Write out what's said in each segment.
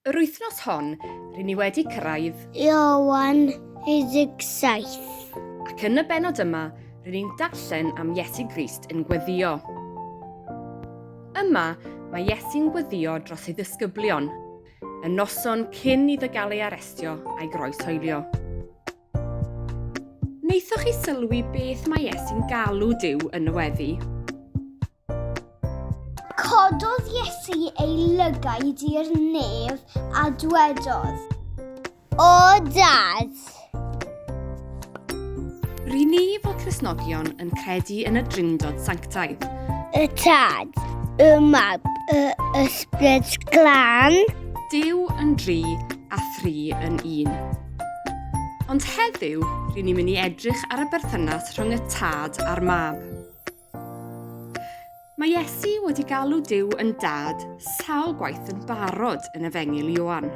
Yr wythnos hon, rŷn ni wedi cyrraedd. Iowan 17. Ac yn y benod yma, rŷn ni'n darllen am Iesu Grist yn gweddio. Yma, mae Iesu'n gweddio dros ei ddisgyblion, y noson cyn iddo gael ei arestio a'i groeshoelio. Wnaethoch chi sylwi beth mae Iesu'n galw Duw yn y weddi? Cododd Iesu ei lygaid i'r nef a dwedodd, O Dad! Rydyn ni fel Cresnogion yn credu yn y Drindod Sanctaidd. Y Tad, y Mab, y Ysbryd Glân. Dyw yn dri a thri yn un. Ond heddiw, rydyn ni'n mynd i edrych ar y berthynas rhwng y Tad a'r Mab. Mae Iesu wedi galw Dyw yn dad sawl gwaith yn barod yn efengil Ioan.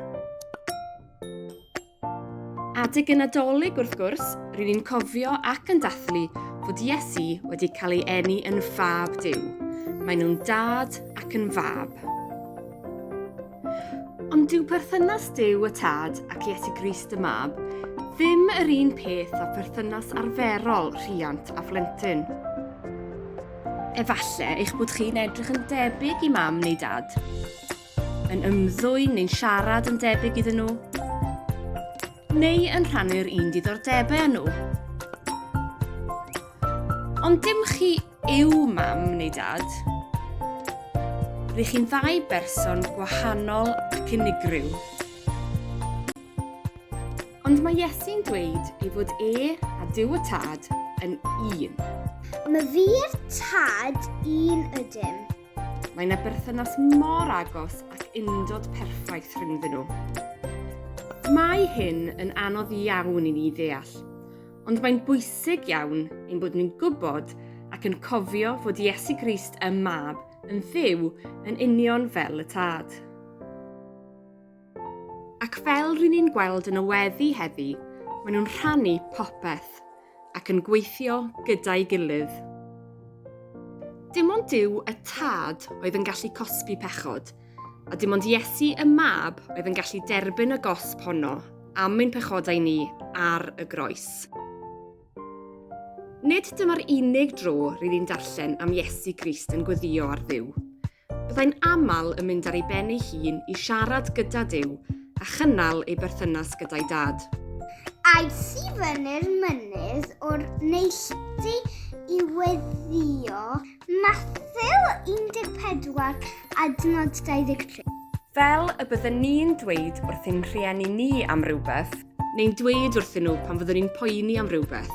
Adeg y Nadolig, wrth gwrs, rydyn ni'n cofio ac yn dathlu fod Iesu wedi cael ei eni yn fab Duw. Mae nhw'n dad ac yn fab. Ond dyw perthynas Duw y Tad ac Iesu Grist y Mab ddim yr un peth â pherthynas arferol rhiant a phlentyn. Efallai eich bod chi'n edrych yn debyg i mam neu dad, yn ymddwyn neu'n siarad yn debyg iddyn nhw, neu yn rhannu'r un diddordebau â nhw. Ond dim chi Yw mam neu dad? Rydych chi'n ddau berson gwahanol ac unigryw. Ond mae Iesu'n dweud ei fod e a Duw y Tad yn un. Mae fi'r tad un ydym. Mae yna berthynas mor agos ac undod perffaith rhyngddyn nhw. Mae hyn yn anodd iawn i ni ddeall, Ond mae'n bwysig iawn ein bod ni'n gwybod ac yn cofio fod Iesu Grist y Mab yn fyw yn union fel y Tad. Ac fel rydyn ni'n gweld yn y weddi heddi, maen nhw'n rhannu popeth ac yn gweithio gyda'i gilydd. Dim ond Duw y Tad oedd yn gallu cosbi pechod, A dim ond Iesu y Mab oedd yn gallu derbyn y gosb honno am ein pechodau ni ar y groes. Nid dyma'r unig dro rydyn ni'n darllen am Iesu Grist yn gweddio ar ddiw. Byddai'n aml yn mynd ar ei ben ei hun i siarad gyda Dyw a chynnal ei berthynas gyda'i dad. Aeth i fyny'r mynydd o'r neilltu i weddio Mathew 14 adnod 23. Fel y byddwn ni'n dweud wrth ein rhieni ni am rywbeth, neu'n dweud wrthyn nhw pan fyddwn ni'n poeni am rywbeth.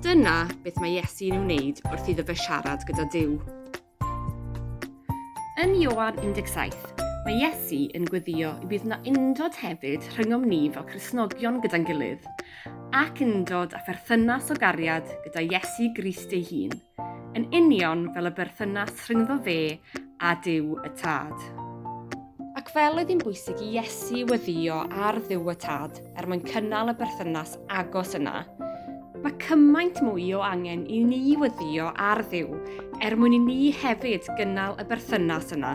Dyna beth mae Iesu yn ei wneud wrth iddo fe siarad gyda Dyw. Yn Ioan 17, mae Iesu yn gweddio y bydd yna undod hefyd rhyngom ni fel Cristnogion gyda'n gilydd, ac undod a pherthynas o gariad gyda Iesu Grist ei hun, yn union fel y berthynas rhyngddo fe a Duw y Tad. Ac fel oedd hi'n bwysig i Iesu weddio ar Dduw y Tad er mwyn cynnal y berthynas agos yna, mae cymaint mwy o angen i ni weddio ar Dduw er mwyn i ni hefyd gynnal y berthynas yna.